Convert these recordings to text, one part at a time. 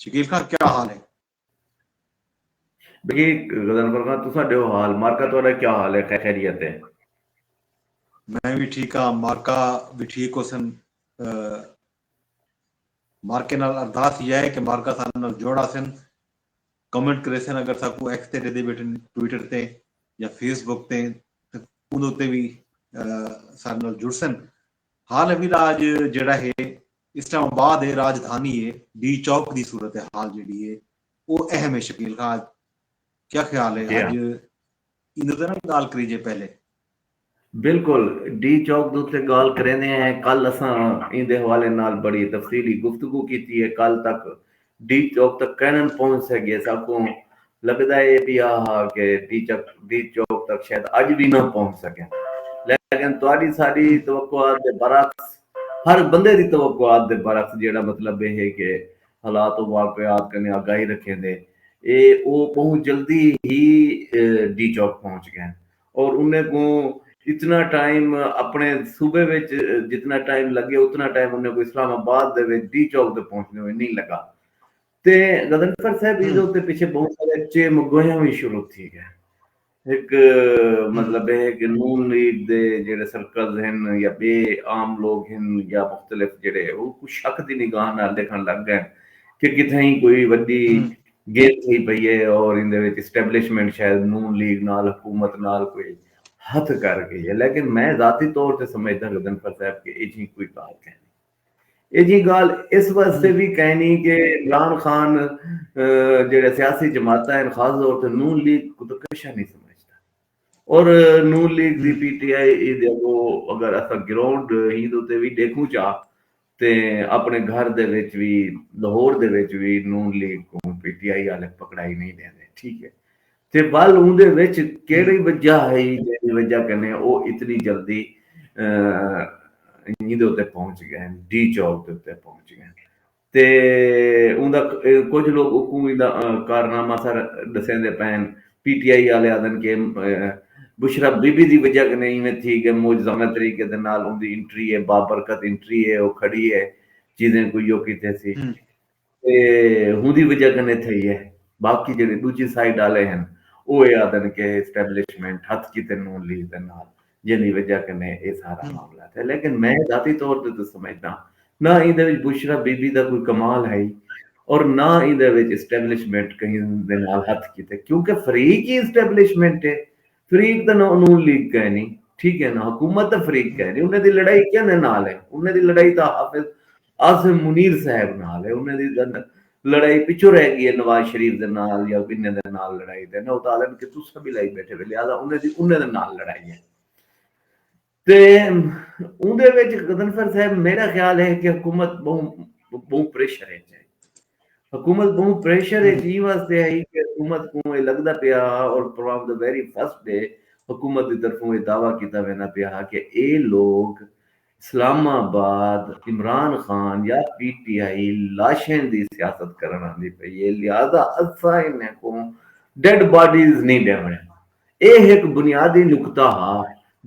شکیل خان کیا حال ہے بگی غزن فرخان تو سا ڈیو حال مارکا تو اڈا کیا حال ہے خیریت ہے میں بھی ٹھیک ہاں مارکا بھی ٹھیک ہو سن مارکے نال ارداس یہ ہے کہ مارکا سا نال جوڑا سن کمنٹ کرے سن اگر سا کو ایکس تے دے دے بیٹھے ٹویٹر تے یا فیس بک تے انہوں تے بھی سا نال جڑ سن حال ابھی لاج جڑا ہے اسلام آباد اے راجدھانی اے ڈی چوک دی صورتحال جیڑھی اے او اہم اے شکیل خاں اج کیا خیال اے اج ایندے تے نہ گالھ کریجے پہلے۔ بلکل ڈی چوک دے اتے گالھ کریندے ہیں کل اساں ایندے حوالے نال بڑی تفصیلی گفتگو کیتی اے کل تک ڈی چوک تک کینن پہنچ سگیے ساکوں لگدا اے وی آ ہا کہ ڈی چوک تک شاید اج وی نہ پہنچ سگیں لیکن تہاڈی ساڈی توقعات دے برعکس ہر بندے دی توقعات دے برعکس جیہڑا مطلب اے ہے کہ حالات و واقعات کنیں آگاہی رکھیندے اے او بہوں جلدی ہی ڈی چوک پہنچ گئن اور انہیں کوں اتنا ٹائم اپنے صوبے وچ جتنا ٹائم لگے اتنا ٹائم انہیں کوں اسلام آباد دے وچ ڈی چوک تے پہنچنے ہوئے نہیں لگا تے غضنفر صاحب ہی دے تے پیچھے بہت سارے چے مگویاں بھی شروع تھی گئے ایک مطلب ہے کہ نون لیگ دے جڑے سرکلز ہیں یا بے عام لوگ ہیں یا مختلف جڑے وہ کچھ شک دی نگاہ نہ دیکھن لگ گئے کہ کتھیں کوئی وڈی گھن تھی پئی اے اور ایندے وچ اسٹیبلشمنٹ شاید نون لیگ نال حکومت نال کوئی ہتھ کر گئی اے لیکن میں ذاتی طور تے سمجھداں غضنفر صاحب کہ ایجھی کوئی گالھ کائنی ایجھی گالھ اس واسطے وی کائنی کہ عمران خان جیڑے سیاسی جماعتاں ہن خاص طور تے نون لیگ کو تو کشا نہیں سمجھ اور نون لیگ دی پی ٹی آئی دے اگو اگر اسا گراؤنڈ ہی دے تے وی دیکھوں چا تے اپݨے گھر دے وچ وی لہور دے وچ وی نون لیگ کوں پی ٹی آئی آلے پکڑائی نئیں ݙیندے ٹھیک ہے تے ول اوندے وچ کیڑی وجہ ہئی جیڑھی وجہ کنے او اتنی جلدی ایندے اتے پہنچ گئے ہن ڈی چوک دے اتے پہنچ گئے ہن تے اوندا کجھ لوگ اکوں ایندا کارنامہ سارا ݙسیندے پئے ہن پی ٹی آئی آلے آدھن کہ بشری بی بی دی وجہ کنے ایویں تھی گے معجزانہ طریقے دے نال اوندی انٹری اے بابرکت انٹری اے او کھڑی اے چیزیں کوئی او کیتے سی تے ہوندی وجہ کنے تھئی اے باقی جیڑھے ڈوجھی سائیڈ آلے ہن او اے آدھن کہ اسٹیبلشمنٹ ہتھ کیتے نون لیگ دے نال جیندی وجہ کنیں اے سارا معاملہ تھیا لیکن میں ذاتی طور تے تاں سمجھداں نہ ایندے وچ بشریٰ بی بی دا کوئی کمال ہئی اور نہ ایندے وچ اسٹیبلشمنٹ کہیں دے نال ہتھ کیتے کیونکہ فریق ای اسٹیبلشمنٹ ہے فریق تاں نہ نون لیگ کائنی ٹھیک ہے نہ حکومت تاں فریق کائنی انہیں دی لڑائی کیندے نال ہے انہیں دی لڑائی تاں حافظ عاصم منیر صاحب نال ہے انہاں دی تاں لڑائی پچھوں رہ گی ہے نواز شریف دے نال یا بنہے دے نال لڑائی تے انہاں اتاں آدن کہ تساں وی لائی بیٹھے وے لہذا انہاں دی انہاں دے نال لڑائی ہے تے اوندے وچ غضنفر صاحب میرا خیال ہے کہ حکومت بہوں بہوں پریشر ہے حکومت بہوں پریشر ہے جی واسطے ہے کہ حکومت کو یہ لگتا پیا اور from the very first day حکومت کی طرفوں یہ دعویٰ کیتا وینا پیا کہ اے لوگ اسلام آباد، عمران خان یا پی ٹی آئی لاشیں دی سیاست کرݨ آندی پئی اے لہذا اساں انھیں کوں ڈیڈ باڈیز نی ݙیوݨے۔ اے ہک بنیادی نکتہ ہا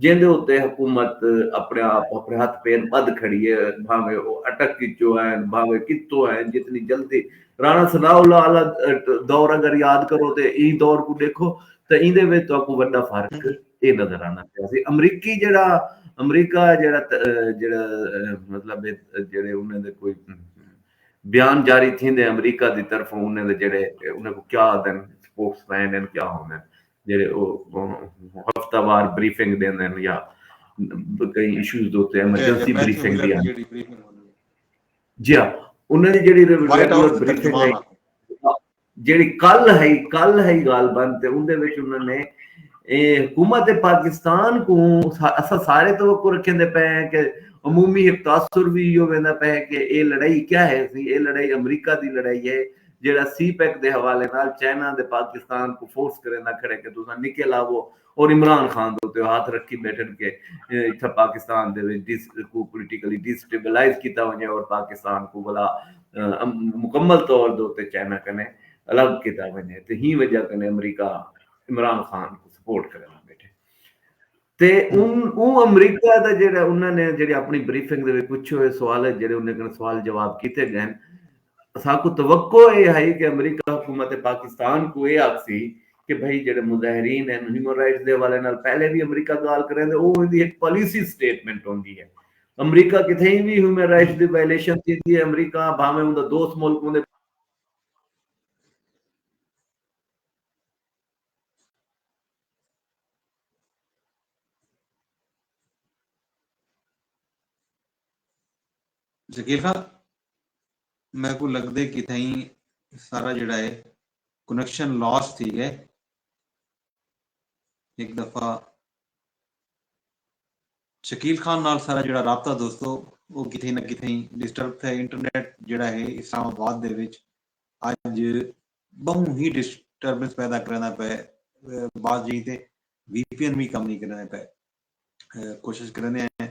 جیندے اتے حکومت اپݨے آپ اپݨے ہتھ پیر ٻدھ کھڑی اے بھانویں او اٹک اچوں ہین بھانویں کتھوں ہین جتنی جلدی رانا ثناء اللہ آلا دور اگر یاد کرو تے ایں دور کوں ݙیکھو تاں ایندے وچ تہاکوں وݙا فرق اے نظر آندا پیا سی امریکی جیڑھا امریکہ جیڑھا جیڑھا مطلب جیڑھے انہاں دے کوئی بیان جاری تھیندے امریکہ دی طرف انہاں دے جیڑھے انہاں کو کیا آدن سپوکس مین ہن کیا ہوندن جیڑھے او ہفتہ وار بریفنگ دیندن یا کئی ایشوز دے اوتے ایمرجنسی بریفنگ دی جیڑھی بریفنگ ہوندی جی ہاں انہاں دی جیڑھی ریگولر بریفنگ ہے جیڑھی کل ہئی کل ہئی غالبا تے اوندے وچ انہاں نے حکومت پاکستان کوں اساں سارے توقع رکھیندے پئے ہیں کہ عمومی ہک تاثر وی ایہو ویندا پئے ہے کہ اے لڑائی کیا ہے سی اے لڑائی امریکہ دی لڑائی ہے جیڑھا سی پیک دے حوالے نال چائنا دے پاکستان کوں فورس کریندا کھڑے کہ تساں نکل آوو اور عمران خان دے اتے ہتھ رکھی بیٹھن کہ اتھاں پاکستان دے وچ کوں پولیٹیکلی ڈی سٹیبلائز کیتا ونجے اور پاکستان کوں ولا مکمل طور دے اتے چائنا کنیں الگ کیتا ونجے تے ہی وجہ کنیں امریکہ عمران خان کوں سپورٹ کرن تے اوں امریکہ دا جیڑا انہاں نے جیڑے اپنی بریفنگ دے وچ پچھے ہوئے سوال ہے جیڑے انہاں نے سوال جواب کیتے گئے ہیں اساکوں توقع اے ہئی کہ امریکہ حکومت پاکستان کوں اے آکھسی کہ بھئی جیڑھے مظاہرین ہن ہیومن رائٹس دے حوالے نال پہلے وی امریکہ گالھ کریندے او ایندی ہک پالیسی سٹیٹمنٹ ہوندی ہے امریکہ کتھئیں وی ہیومن رائٹس دی وائلیشن تھیندی ہے امریکہ بھانویں اوندا دوست ملک ہوندے شکیل خان میکوں لگدے کتھائیں سارا جیڑھا ہے کنیکشن لاس تھی گئے ہک دفعہ شکیل خان نال سارا جڑا رابطہ دوستو وہ کتھے نہ کتھے ڈسٹرب تھے انٹرنیٹ جڑا ہے اسلام آباد دے وچ اج بہوں ہی ڈسٹربنس پیدا کرنا پے بعض جہیں تے وی پی این بھی کم نہیں کرنا پے کوشش کریندے ہیں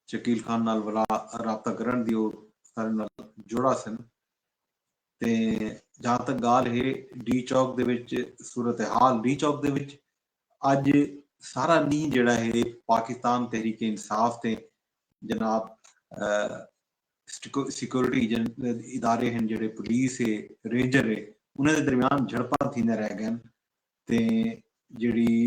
شکیل خان نال ولا رابطہ کرنڑ دی او سارے نال جڑا سن تے جہاں تک گال ہے ڈی چوک دے وچ صورتحال ڈی چوک دے وچ اج سارا ڈینہ جیڑا ہے پاکستان تحریک انصاف تے جناب سیکورٹی ادارے ہیں جڑے پولیس ہے رینجر ہے انہاں دے درمیان جھڑپاں تھیندے رہ گئے تے جڑی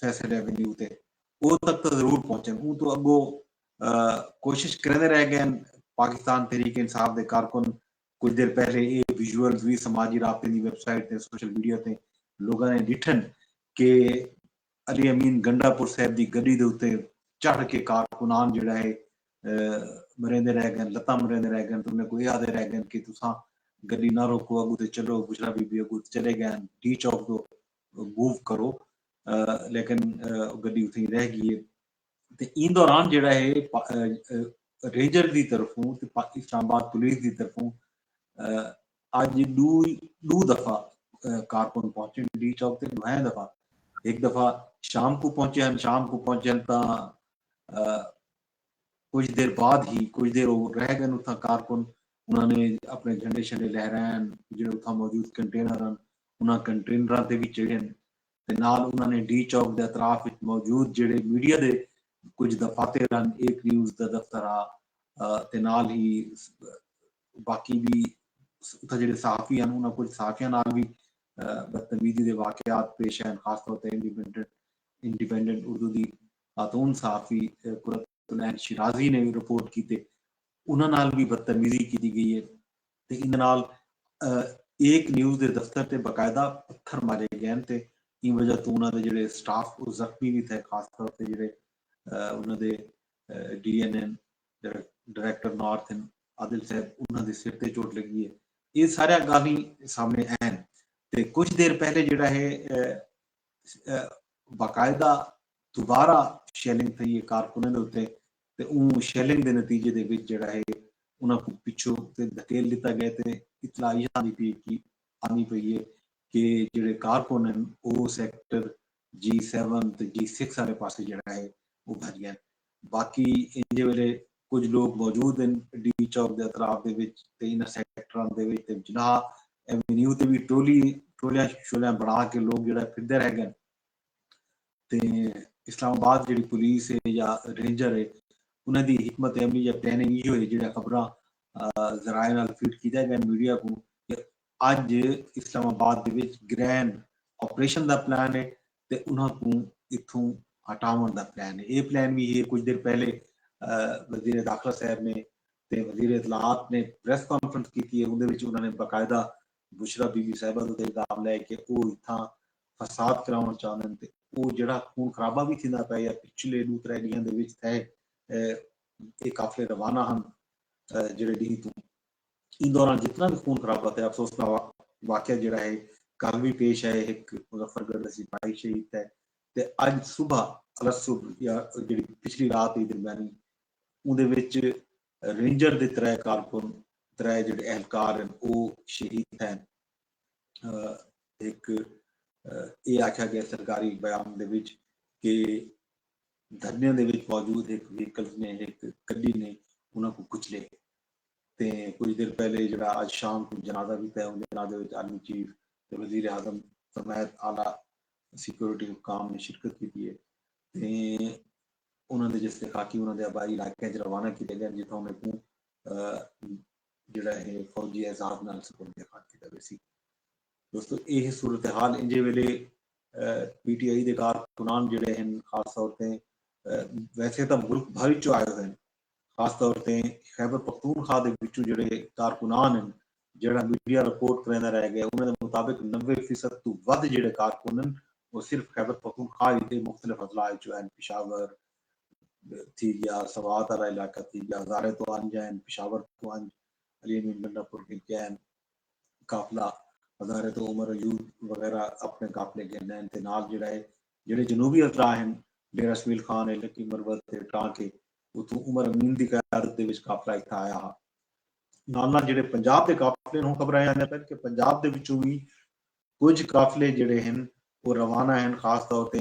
فیصل ایونیو تے او تک تاں ضرور پہنچن اوں توں اگو کوشش کریندے رہ گئن پاکستان تحریک انصاف دے کارکن کجھ دیر پہلے اے ویژولز وی سماجی رابطیں دی ویب سائٹ تے سوشل میڈیا تے لوگاں نے ڈٹھن کہ علی امین گنڈا پور صاحب دی گڈی دے اتے چڑھ کے کارکنان جیڑھا ہے مریندے رہ گئن لتاں مریندے رہ گئن تے انہاں کوں اے آدھے رہ گئن کہ تساں گڈی نہ روکو اگو تے چلو بشرا بی بی اگو تے چلے گئن ڈی چوک توں موو کرو لیکن گڈی اتھیں ہی رہ گئی ہے تے ایں دوران جیڑھا ہے رینجر دی طرفوں تے اسلام آباد پولیس دی طرفوں اج ڈو دفعہ کارکن پہنچے ہن ڈی چوک تے ڈوہیں دفعہ ہک دفعہ شام کوں پہنچے ہن شام کوں پہنچے ہن تاں کجھ دیر بعد ہی کجھ دیر او رہ گن اتھاں کارکن انہاں نے اپنے جھنڈے شنڈے لہرائن جیڑھے اتھاں موجود کنٹینر ہن انہاں کنٹینراں تے وی چڑھن تے نال انہاں نے ڈی چوک دے اطراف وچ موجود جیڑھے میڈیا دے کجھ دفاتر ہن ایک نیوز دا دفتر ہا تے نال ہی باقی وی اتھاں جیڑھے صحافی ہن انہاں کجھ صحافیاں نال وی بدتمیزی دے واقعات پیش آئن خاص طور تے انڈیپینڈنٹ انڈیپینڈنٹ اردو دی خاتون صحافی قرۃ العین شیرازی نے وی رپورٹ کیتے انہاں نال وی بدتمیزی کیتی گئی اے تے ایندے نال ایک نیوز دے دفتر تے باقاعدہ پتھر مارے گئن تے ایں وجہ توں انہاں دے جیڑھے سٹاف او زخمی وی تھئے خاص طور تے جیڑھے انہاں دے D N N director north ہن عادل صاحب انہاں دے سر تے چوٹ لگی اے اے ساریاں گالھیں سامنے آئن تے کجھ دیر پہلے جیڑھا ہے باقاعدہ دوبارہ شیلنگ تھئی اے کارکناں دے اتے تے اوں شیلنگ دے نتیجے دے وچ جیڑھا اے انہاں کوں پچھوں تے دھکیل ڈتا گئے تے اطلاع ایہا آندی پئی اے کہ آندی پئی اے کہ جیڑھے کارکن ہن او سیکٹر جی سیون تے جی سکس آلے پاسے جیڑھا اے او بھج گئن۔ باقی ایجھے ویلے کجھ لوک موجود ہن ڈی چوک دے اطراف دے وچ تے انہاں سیکٹراں دے وچ تے جناح ایونیو تے وی ٹولی ٹولیاں شولیاں بنڑا کے لوک جیڑھا پھردے رہ گئن تے اسلام آباد جیڑھی پولیس ہے یا رینجر ہے انہاں دی حکمت عملی یا پلاننگ ایہو ہے جیڑھیاں خبراں ذرائع نال فیڈ کیتیاں گئن میڈیا کوں کہ اج اسلام آباد دے وچ گرینڈ آپریشن دا پلان ہے تے انہاں کوں اتھوں ہٹاوݨ دا پلان اے۔ اے پلان وی ہے کجھ دیر پہلے وزیر داخلہ صاحب نے تے وزیر اطلاعات نے پریس کانفرنس کیتی اے اوندے وچ انہاں نے باقاعدہ بشری بی بی صاحبہ دا الزام لائے کہ او اتھاں فساد کراوݨ چاہندن تے او جیڑھا خون خرابہ وی تھیندا پئے یا پچھلے ݙو ترے ݙینہاں دے وچ تھئے اے قافلے روانہ ہن جیڑھے ݙینہہ توں ایں دوران جتنا وی خون خرابہ تے افسوسناک واقعہ جیڑھا ہے کل وی پیش آئے ہک مظفر گڑھ دا سپاہی شہید تھئے تے اج صبح الصبح یا جیڑھی پچھلی رات ہئی درمیانی اوندے وچ رینجر دے ترے کارکن ترے جیڑھے اہلکار ہن او شہید تھئن ہک اے آکھیا گئے سرکاری بیان دے وچ کہ دھرنیاں دے وچ موجود ہک وہیکلز نے ہک گڈی نے انہاں کوں کچلے۔ تے کجھ دیر پہلے جیڑھا اج شام کوں جنازہ کیتا ہے اوں جنازے وچ آرمی چیف تے وزیراعظم سمیت اعلی سکیورٹی حکام نے شرکت کیتی ہے تے انہاں دے جسد خاکی انہاں دے آبائی علاقیاں وچ روانہ کیتے گئن جتھاں انہاں کوں جیڑھا ہے فوجی اعزاز نال سپرد خاک کیتا ویسی۔ دوستو اے ہے صورتحال انجھے ویلے پی ٹی آئی دے کارکنان جیڑھے ہن خاص طور تے ویسے تاں ملک بھر وچوں آئے ہوئے ہن خاص طور تے خیبر پختونخوا دے وچوں جیڑھے کارکنان ہن جیڑھا میڈیا رپورٹ کریندا رہ ڳئے انہاں دے مطابق نوے فیصد توں ودھ جیڑھے کارکن ہن او صرف خیبر پختونخوا ہی دے مختلف اضلاع وچوں ہن پشاور تھی ڳیا سوات آلا علاقہ تھی ڳیا ہزارے توں انج ہن پشاور توں انج علی امین گنڈا پور گھن کے ہن قافلہ ہزارے توں عمر ایوب وغیرہ اپݨے قافلے گھن ہن تے نال جیڑھا ہے جیڑھے جنوبی التراء ہن، ڈیرہ سویل خان ء لکی مروت تے ٹانک ء اتھوں عمر امین دی قیادت دے وچ قافلہ اتھاں آیا ہا۔ نال نال جیڑھے پنجاب دے قافلے ہن ہوں خبرائے آندے پن کہ پنجاب دے وچوں وی کجھ قافلے جیڑھے ہن او روانہ ہن خاص طور تے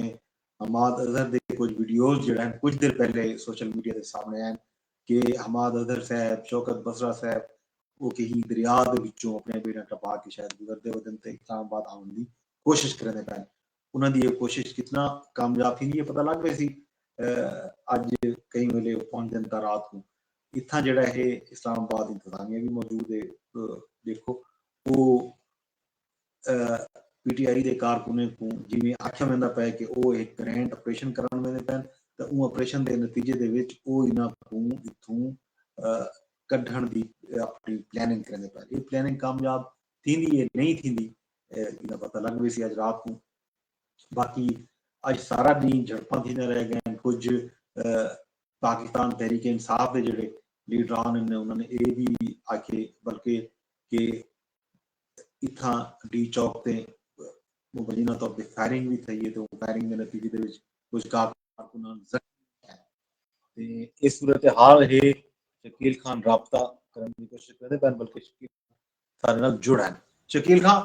حماد اظہر دے کجھ ویڈیوز جیڑھے ہن کجھ دیر پہلے سوشل میڈیا تے سامنے آئن کہ حماد اظہر صاحب، شوکت بصرہ صاحب او کہیں دریا دے وچوں اپنیاں بیڑیاں ٹپا کے شاید گزردے ودن تے اسلام آباد آون دی کوشش کریندے پن۔ انہاں دی ایہ کوشش کتنا کامیاب تھیندی اے پتہ لگ ویسی۔ اج کہیں ویلے او پہنچدن تاں رات کوں اتھاں جیڑھا اے اسلام آباد انتظامیہ وی موجود اے ڈیکھو او پی ٹی آئی دے کارکنیں کوں جیویں آکھیا ویندا پئے کہ او ہک گرینڈ آپریشن کرݨ ویندے پئن تاں اوں آپریشن دے نتیجے دے وچ او انہاں کوں اتھوں کڈھݨ دی اپݨی پلاننگ کریندے پئن۔ ایہ پلاننگ کامیاب تھیندی اے نئیں تھیندی ایندا پتہ لڳ ویسی اڄ رات کوں باقی اڄ سارا ݙینھ جھڑپاں تھیندیاں رہ ڳئن کجھ پاکستان تحریک انصاف دے جیڑھے لیڈران ہن انہاں نے اے وی آکھیے بلکہ کہ اتھاں ڈی چوک تے مبینہ طور تے فائرنگ وی تھئی ہے تے اوں فائرنگ دے نتیجے دے وچ کجھ کارکنان زخمی تے اے صورتحال ہے شکیل خان رابطہ کرݨ دی کوشش کریندے پئن بلکہ شکیل سارے نال جڑ ہن۔ شکیل خاں،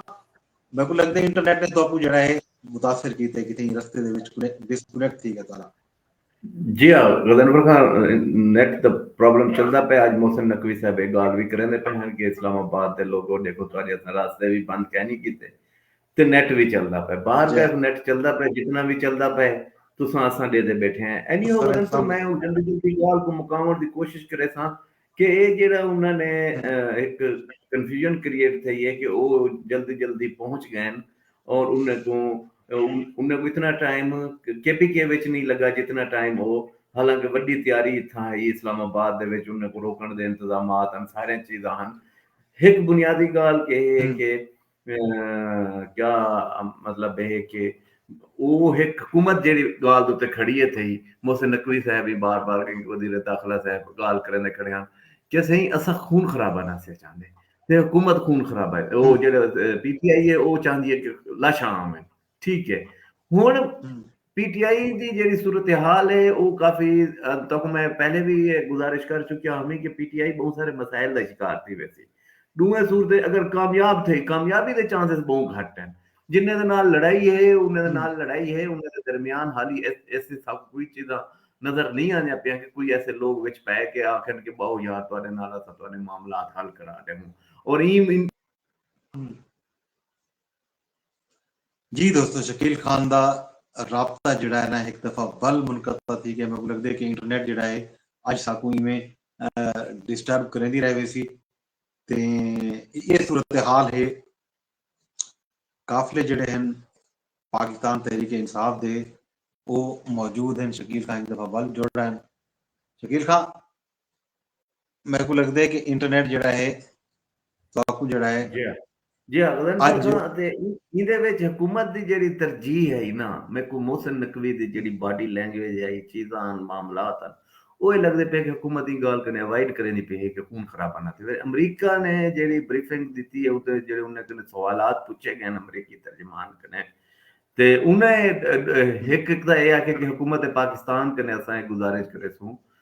میکوں لگدے انٹرنیٹ نے تہاکوں جیڑھا ہے متاثر کیتے کتھیں رستے دے وچ ڈس کنیکٹ تھی گھتالا۔ جی ہاں غضنفر خاں نیٹ دا پرابلم چلدا پئے اج محسن نقوی صاحب اے گالھ وی کریندے پئے ہن کہ اسلام آباد دے لوگو ڈیکھو تہاڈے اساں راستے وی بند کینی کیتے تے نیٹ وی چلدا پئے باہر تیخ نیٹ چلدا پئے جتنا وی چلدا پئے تساں اساں ڈیدے بیٹھے ہیں اینی ہو غضنفر میں ہن گندگی دی گالھ کوں مکاونڑ دی کوشش کریساں کہ اے جیڑھا انہاں نے ہک کنفیوژن کریئٹ تھئی ہے کہ او جلدی جلدی پہنچ گئن اور انہیں کوں انہیں کوں اتنا ٹائم کے پی کے وچ نی لگا جتنا ٹائم او حالانکہ وڈی تیاری اتھاں ہئی اسلام آباد دے وچ انہیں کوں روکن دے انتظامات ہن ساریاں چیزاں ہن ہک بنیادی گالھ کہ اے ہے کہ کیا مطلب اے ہے کہ او ہک حکومت جیڑھی گالھ دے اتے کھڑی اے تھئی محسن نقوی صاحب ہی بار بار وزیر داخلہ صاحب گالھ کریندے کھڑے ہن کہ سئیں اساں خون خرابہ نہ سیا چاہندے تے حکومت خون خرابہ او جیڑھا پی ٹی آئی اے او چاہندی اے کہ لاشاں آون۔ ٹھیک ہے ہن پی ٹی آئی دی جیڑی صورتحال ہے او کافی تہاکوں میں پہلے وی گزارش کر چکیا ہاں کہ پی ٹی آئی بہوں سارے مسائل دا شکار تھی ویسی ݙوہیں صورت اگر کامیاب تھئی کامیابی دے چانسز بہوں گھٹ ہن جنہیں دے نال لڑائی ہے انہیں دے نال لڑائی ہے انہیں دے درمیان حالی ایسی سب کوئی چیزاں نظر نہیں آندیاں پیاں کہ کوئی ایسے لوگ وچ پے کے آکھن کہ باؤ یار تہاڈے نال اساں تہاڈے معاملات حل کرا ݙیوں اور ایں جی دوستو شکیل خان دا رابطہ جیڑھا ہے نا ہک دفعہ ول منقطع تھی گیا میکوں لگدے کہ انٹرنیٹ جیڑھا ہے اج ساکوں ایویں ڈسٹرب کریندی رہ ویسی تے اے صورتحال ہے قافلے جیڑھے ہیں پاکستان تحریک انصاف دے او موجود ہیں شکیل خان ہک دفعہ ول جڑ رہے ہیں شکیل خان میکوں لگدے کہ انٹرنیٹ جیڑھا ہے تہاکوں جیڑھا ہے جی ہاں جی ہاں غزنفر اج خاں اتے ایں ایندے وچ حکومت دی جیڑھی ترجیح ہئی نا میکوں محسن نقوی دی جیڑھی باڈی لینگویج ہئی چیزاں ہن معاملات ہن اوہ اے لگدے پئے کہ حکومت ایں گالھ کنیں اوائیڈ کریندی پئی ہے کہ خون خرابہ نہ تھیوے امریکہ نے جیڑھی بریفنگ ڈتی ہے اتے جیڑھے انہیں کنیں سوالات پچھے گئے ہن امریکی ترجمان کنیں تے انہیں ہک ہک تاں اے آکھیا کہ حکومت پاکستان کنیں اساں اے گزارش کریسوں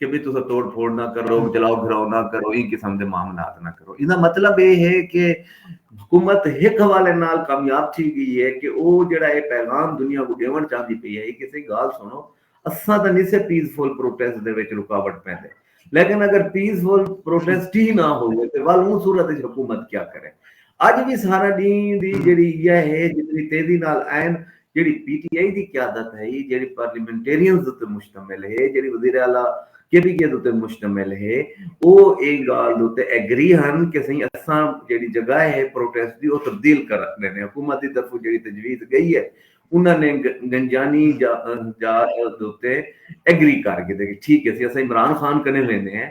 کہ بھئی تساں توڑ پھوڑ نہ کرو جلاؤ گھراؤ نہ کرو ایں قسم دے معاملات نہ کرو ایندا مطلب اے ہے کہ حکومت ہک حوالے نال کامیاب تھی گئی ہے کہ او جیڑھا اے پیغام دنیا کوں ڈیونڑ چاہندی پئی ہے کہ سئی گالھ سنڑو اساں تاں نی سے پیس فل پروٹیسٹ دے وچ رکاوٹ پیندے لیکن اگر پیس فل پروٹیسٹ ہی نہ ہووے تے ول اوں صورت وچ حکومت کیا کرے اج وی سارا ڈینہہ دی جیڑھی ایہا ہے جتنی تیزی نال آئین جیڑھی پی ٹی آئی دی قیادت ہئی، جیڑھی پارلیمنٹیرینز اتے مشتمل ہے، جیڑھی وزیر اعلی کے پی کے اتے مشتمل ہے، او ایں گالھ اتے ایگری ہن کہ سئیں اساں جیڑھی جگہ ہے پروٹیسٹ دی او تبدیل کر ڈینے، حکومت دی طرفوں جیڑھی تجویز گئی ہے انہاں نے گنجانی جا جا اتے ایگری کر گھدے کہ ٹھیک ہے سئیں اساں عمران خان کنے ویندے ہیں،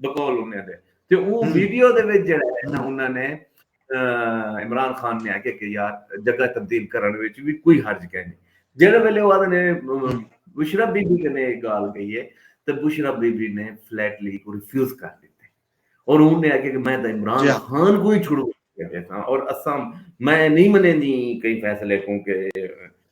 بقول انہاں دے تے او ویڈیو دے وچ جیڑھا ہے نا انہاں نے عمران خان نے آکھیا کہ یار جگہ تبدیل کرݨ وچ وی کوئی حرج کائے نی جیڑھے ویلے او آکھدے نے بشریٰ بی بی کنے اے گالھ کہی ہے تے بشریٰ بی بی نے فلیٹلی اکوں ریفیوز کر ݙتے اور اوں نے آکھیا کہ میں تاں عمران خان کوں ہی چھڑوا ݙیساں اور اساں میں نی منیندی کہیں فیصلے کوں کہ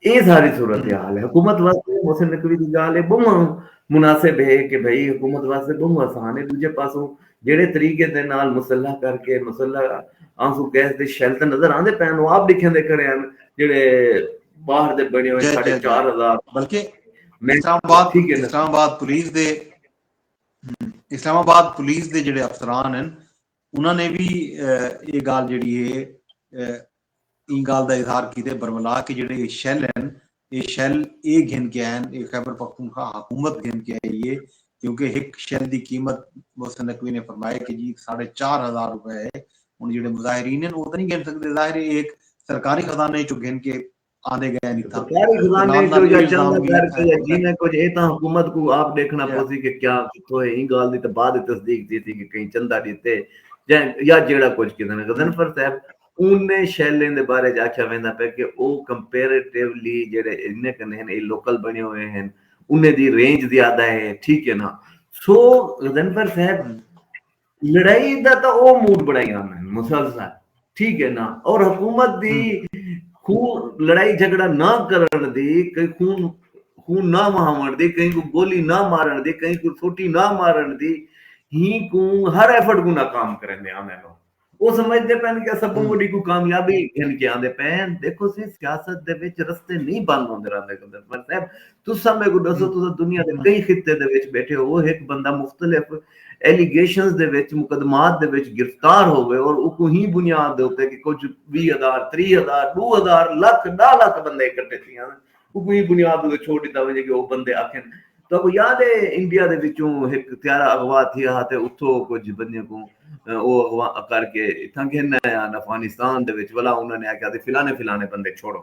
اے ساری صورتحال ہے حکومت واسطے محسن نقوی دی گال اے بہوں مناسب ہے کہ بھئی حکومت واسطے بہوں آسان ہے دوجے پاسوں جڑے طریقے دے نال مسلح کر کے مسلح آنسو گیس دے شیل تے نظر آندے پین او آپ لکھیں دے کھڑے ہیں جڑے باہر دے بنے ہوئے ساڑھے چار ہزار بلکہ اسلام آباد اسلام آباد پولیس دے اسلام آباد پولیس دے جڑے افسران ہیں انہاں نے وی اے گالھ جیڑھی ہے ایں گالھ دا اظہار کیتے برملا کہ جیڑھے اے شیل ہن اے شیل اے گھن کے آئے ہن اے خیبر پختونخوا حکومت گھن کے آئی ہے کیونکہ ہک شیل دی قیمت محسن نقوی نے فرمایا کہ جی ساڑھے چار ہزار روپے ہے ہن جیڑھے مظاہرین ہن او تاں نی گھن سکدے ظاہر ہے اے ہک سرکاری خزانے اچوں گھن کے آندے گئے نی تاں سرکاری خزانے اچوں یا چند دا گھر تے یا جیویں کجھ اے تاں حکومت کوں آپ ڈیکھنا پوسی کہ کیا کتھوں اے ایں گالھ دی تاں بعد اچ تصدیق تھیسی کہ کہیں چندہ ڈتے جیں یا جیڑھا کجھ کیتا نے غضنفر صاحب اونیں شیلیں دے بارے اچ آکھیا ویندا پئے کہ او کمپیریٹیولی جیڑھے انہیں کن ہن اے لوکل بنے ہوئے ہن انہیں دی رینج زیادہ اے ٹھیک اے نا سو غضنفر صاحب لڑائی دا تاں او موڈ بنڑائی آندے ہن مسلسل ٹھیک ہے نا اور حکومت دی خون لڑائی جھگڑا نہ کرن دی کہیں خون خون نہ وہاون دی کہیں کو گولی نہ مارن دی کہیں کو سوٹی نہ مارن دی ہی کو ہر ایفرٹ کو ناکام کرن دے آندے نو او سمجھ دے پین کہ سب کو ڈی کو کامیابی گھن کے آندے پین دیکھو سی سیاست دے وچ رستے نہیں بند ہوندے رہندے گندر پر صاحب تساں میکوں ڈسو تساں دنیا دے کئی خطے دے وچ بیٹھے ہووو ہک بندہ مختلف ایلیگیشنز دے وچ مقدمات دے وچ گرفتار ہووے اور اوکوں ہی بنیاد دے اتے کہ کجھ ویہہ ہزار تریہہ ہزار ڈو ہزار لکھ ڈاہ لکھ بندے اکٹھے تھی آون اوکوں ہی بنیاد دے اتے چھوڑ ڈتا ونجے کہ او بندے آکھن تہاکوں یاد ہے انڈیا دے وچوں ہک طیارہ اغوا تھیا ہا تے اتھوں کجھ بندیاں کوں او اغوا کر کے اتھاں گھن آئے ہن افغانستان دے وچ ولا انہاں نے آکھیا سی فلانے فلانے بندے چھوڑو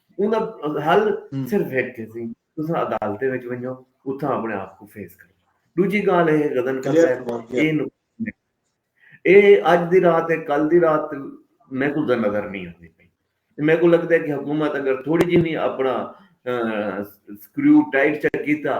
انہاں دا حل صرف ہک ہے سی تساں عدالتیں وچ ونجو اتھاں اپنے آپ کوں فیس کرو ڈوجھی گال اے ہے غزن کرتا ہے اے نقصان اے اج دی رات اے کل دی رات میں کو نظر نہیں آندی پئی میں کو لگدا ہے کہ حکومت اگر تھوڑی جی وی اپنا سکریو ٹائٹ چا کیتا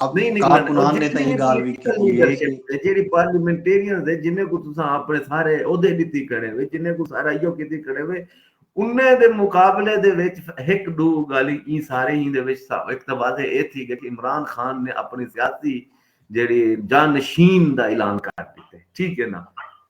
کارکنان نے تاں اے گالھ وی کیتی اے کہ۔ جیڑھی پارلیمنٹیرینز اے جنہیں کوں تساں اپنے سارے عہدے ڈتی کھڑے وے جنہیں کوں سارا ایہو کیتی کھڑے وے انہیں دے مقابلے دے وچ ہک ڈو گالھیں ایں سارے ایں دے وچ ہک تاں واضح اے تھی گئی کہ عمران خان نے اپنی سیاسی جیڑھی جانشین دا اعلان کر ڈتے ٹھیک اے نا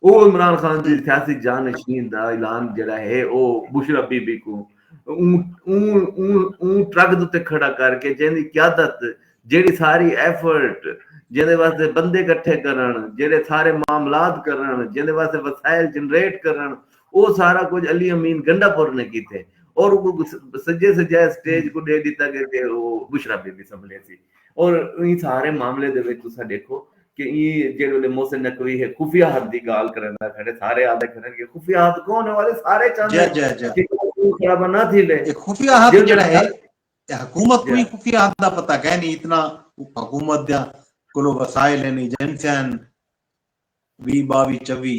او عمران خان دی سیاسی جانشین دا اعلان جیڑھا اے او بشرا بی بی کوں اوں ٹرک دے اتے کھڑا کر کے جیں دی قیادت جیڑھی ساری ایفرٹ جیں دے واسطے بندے کٹھے کرن جیڑھے سارے معاملات کرن جیں دے واسطے وسائل جنریٹ کرن او سارا کجھ علی امین گنڈا پور نے کیتے اور سجے سجائے سٹیج کوں ڈے ڈتا گے تے او بشرا بی بی سنبھلے سی اور ایں سارے معاملے دے وچ تساں ڈیکھو کہ ایں جیڑھے ویلے محسن نقوی ہے خفیہ حد دی گالھ کرندا کھڑے سارے آدھے کھڑن کہ خفیہ حد کون ہے والے سارے چاہندے جے جے جے خرابہ نہ تھی لے اے خفیہ حد جیڑھا ہے اے حکومت کو ہی خفیہ حد دا پتہ کہے نہیں اتنا حکومت دیاں کلو وسائل ہیں ایجنسیاں ہیں وی باوی چوی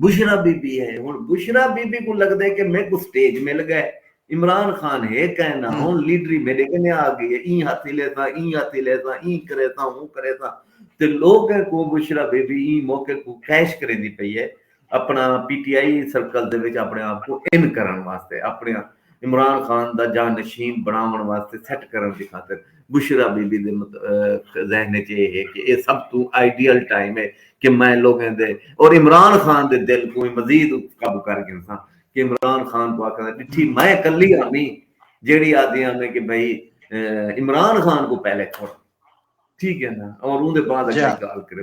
بشریٰ بی بی ہے ہن بشریٰ بی بی کوں لگدے کہ میکوں سٹیج مل گئے عمران خان ہے کائیں نہ ہن لیڈری میڈے کنیں آ گئی ہے ایں ہتھ ہلیساں ایں ہتھ ہلیساں ایں کریساں اوں کریساں تے لوگ کوں بشریٰ بی بی ایں موقع کوں کیش کریندی پئی ہے اپنا پی ٹی آئی سرکل دے وچ اپنے آپ کوں ان کرن واسطے اپنے عمران خان دا جانشین بنڑاونڑ واسطے سیٹ کرنڑ دی خاطر بشریٰ بی بی دے ذہن اچ اے ہے کہ اے سب توں آئیڈیل ٹائم اے کہ میں لوگیں دے اور عمران خان دے دل کوں وی مزید قابو کر گھنساں کہ عمران خان کوں آکھاں ڈٹھی میں کلی آمی جیڑھی آدھی آمی کہ بھئی عمران خان کوں پہلے چھوڑ ٹھیک ہے نا اور اوندے بعد اگلی گالھ کرے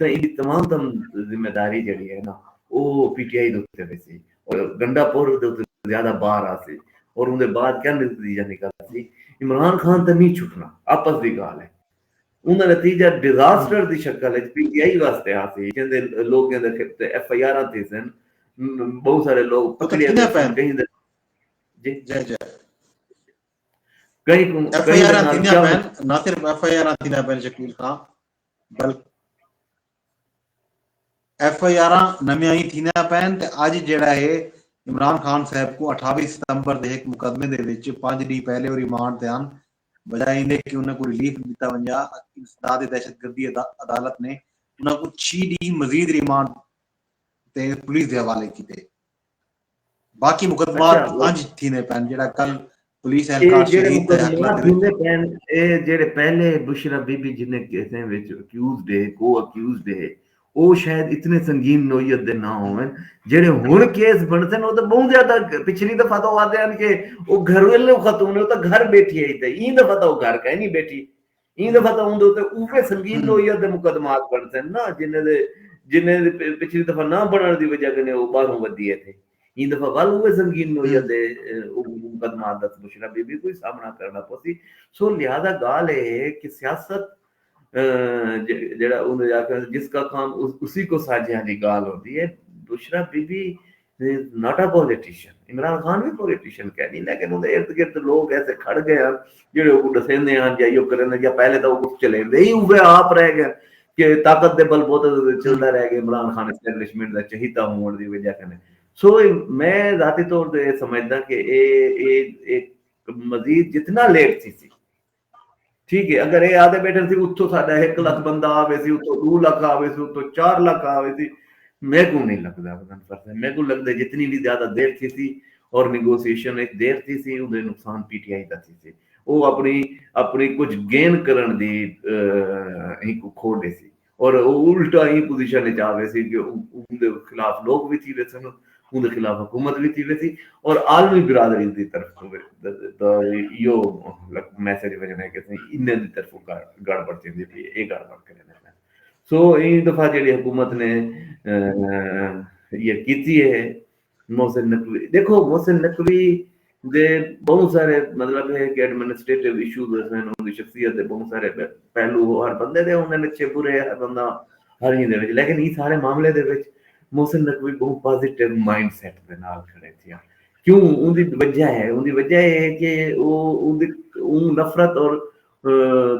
تاں ایندی تمام تر ذمہ داری جیڑھی ہے نا او پی ٹی آئی دے اتے ویسی اور گنڈا پور دے اتے زیادہ بار آسی اور اوندے بعد کیا نتیجہ نکلسی عمران خان تاں نی چھٹنا آپس دی گال ہے اوندا نتیجہ ڈیزاسٹر دی شکل اچ پی ٹی آئی واسطے آسی جیندے لوگیں دے اتے ایف آئی آراں تھیسن بہوں سارے لوگ پکڑے ویسن کہیں دے جی جی جی کہیں کوں ایف آئی آراں تھیندیاں پین نہ صرف ایف آئی آراں تھیندیاں پین شکیل خان بلکہ ایف آئی آراں نویاں ای تھیندیاں پئن تے اج جیڑھا ہے عمران خان صاحب کوں اٹھاوی ستمبر دے ہک مقدمے دے وچ پنج ڈینھ پہلے او ریمانڈ تے ہن بجائے ایندے کہ انہاں کوں ریلیف ڈتا ونجا اتے انسداد دہشت گردی عدالت نے انہاں کوں چھی ڈینھ مزید ریمانڈ تے پولیس دے حوالے کیتے۔ باقی مقدمات انج تھیندے پن جڑا کل پولیس اہلکار شہید تے حق لگ تھیندے پن اے جڑے پہلے بشرا بی بی جنے کیسیں وچ اکیوز دے کو اکیوز دے او شاید اتنے سنگین نوعیت دے نہ ہوون جڑے ہن کیس بنسن او تے بہوں زیادہ پچھلی دفعہ تو آدے ہن کہ او گھر ویلے خاتون او تے گھر بیٹھی ہے تے ایں دفعہ تو گھر کہیں نہیں بیٹھی ایں دفعہ تاں اوندے اتے اوہے سنگین نوعیت دے مقدمات بݨسن نا جنھاں دے جنھاں دے پچھلی دفعہ نہ بݨݨ دی وجہ کنے او ٻاہروں ودھی اے تھے ایں دفعہ ول اوہے سنگین نوعیت دے مقدمات دا بشریٰ بی بی کوں ہی سامݨا کرݨا پوسی سو لہذا ڳالھ اے ہے کہ سیاست جیڑھا اوندے آکھݨ جس کا کام اسی کو ساجھے آلی ڳالھ ہوندی اے بشریٰ بی بی ہی not a politician Imran Khan وی پولیٹیشن کہہ نہیں لیکن اون دے ارد گرد لوگ ایسے کھڑ گئے ہیں جڑے او کو ڈسیندے ہیں یا یو کرن یا پہلے تو او چلیندے ہی اوے آپ رہ گئے کہ طاقت دے بل بوتے تے چلدا رہ گئے عمران خان اسٹیبلشمنٹ دا چہیتا ہون دی وجہ کنے سو میں ذاتی طور تے سمجھدا کہ اے اے اے مزید جتنا لیٹ تھی سی ٹھیک ہے اگر اے آدھے بیٹھے سی اتھو ساڈا ہک لکھ بندہ آوے سی اتھو دو لکھ آوے سی اتھو چار لکھ آوے سی میکو نہیں لگدا وزن فرسا میکو لگدا جتنی بھی زیادہ دیر تھی سی اور نیگوسیشن ایک دیر تھی سی اون دے نقصان پی ٹی آئی دا تھی سی او اپنی اپنی کچھ گین کرن دی ہک کھو ڈے سی اور او الٹا ایں پوزیشن اچ آ ویسی کہ اوندے خلاف لوک وی تھی ویسن، اوندے خلاف حکومت وی تھی ویسی اور عالمی برادری دی طرف توں وی ایہو میسج ویسن ہے کہ اساں انہاں دی طرفوں گڑبڑ تھیندی پئی ہے، ایہ گڑبڑ کریندے پئے ہن۔ سو ایں دفعہ جیڑھی حکومت نے ایہ کیتی ہے۔ محسن نقوی ݙیکھو محسن نقوی دے ٻہوں سارے مطلب ہے کہ ایڈمنسٹریٹو ایشوز ہوسن انہاں دی شخصیت دے ٻہوں سارے پہلو ہو ہر بندے دے ہوندن اچھے برے ہر بندہ ہر ہی دے وچ لیکن ایں سارے معاملے دے وچ محسن نقوی ٻہوں پازیٹو مائنڈ سیٹ دے نال کھڑے تھیا کیوں اوندی وجہ ہے اوندی وجہ اے ہے کہ او اوندی اوں نفرت اور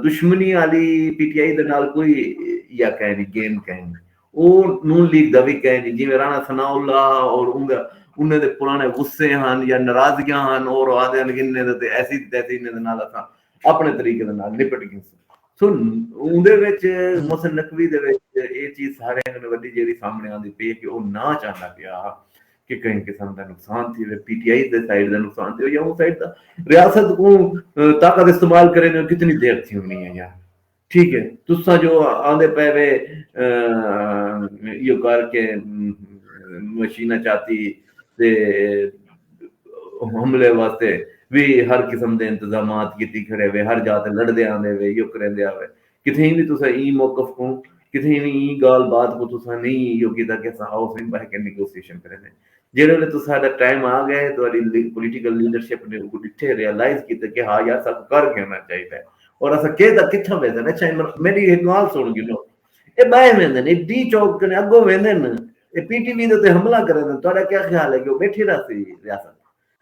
دشمنی آلی پی ٹی آئی دے نال کوئی یا کائے نی گیم کائے نی او نون لیگ دا وی کائے نی جیویں رانا ثناء اللہ اور انہاں دے پرانے غصے ہن یا ناراضگیاں ہن اور او آہدے ہن کہ انہاں دے تے ایسی تیسی انہاں دے نال اساں اپنے طریقے دے نال نپٹ گیسوں سو اوندے وچ محسن نقوی دے وچ اے چیز سارے کوں وڈی جیڑی سامنے آندی پئی کہ او نا چاہندا پیا ہا کہ کہیں قسم دا نقصان تھی ہوئے پی ٹی آئی دے سائیڈ دا نقصان تھی ہوئے یا اون سائیڈ دا ریاست کو طاقت استعمال کرے نے کتنی دیر تھی ہونی ہے یا ٹھیک ہے تسا جو آندے پہ وے یہ کر کے مشینہ چاہتی تے حملے واسطے بھی ہر قسم دے انتظامات کیتی کھڑے وے ہر جاتے لڑ دے آندے وے یہ کریں دے آوے کتھیں وی تساں ایں موقف کوں کتھیں وی ایں گالھ بات کوں تساں نئیں ایہو کیتا کہ اساں ہاؤس وچ بہہ کے نیگوسیشن کریندے جیڑھے ویلے تساں دا ٹائم آ گئے تہاڈی پولیٹیکل لیڈرشپ نے اوکوں ڈٹھے ریالائز کیتے کہ ہا یار ساکوں کر گھننا چاہیدا ہے اور اساں کہہ دا کتھاں ویندن اچھا عمران خان میڈی ہک گالھ سن گھنو اے بہہ ویندن اے ڈی چوک کنے اگوں ویندن اے پی ٹی وی دے تے حملہ کریندن تہاڈا کیا خیال ہے کہ او بیٹھی رہسی ریاست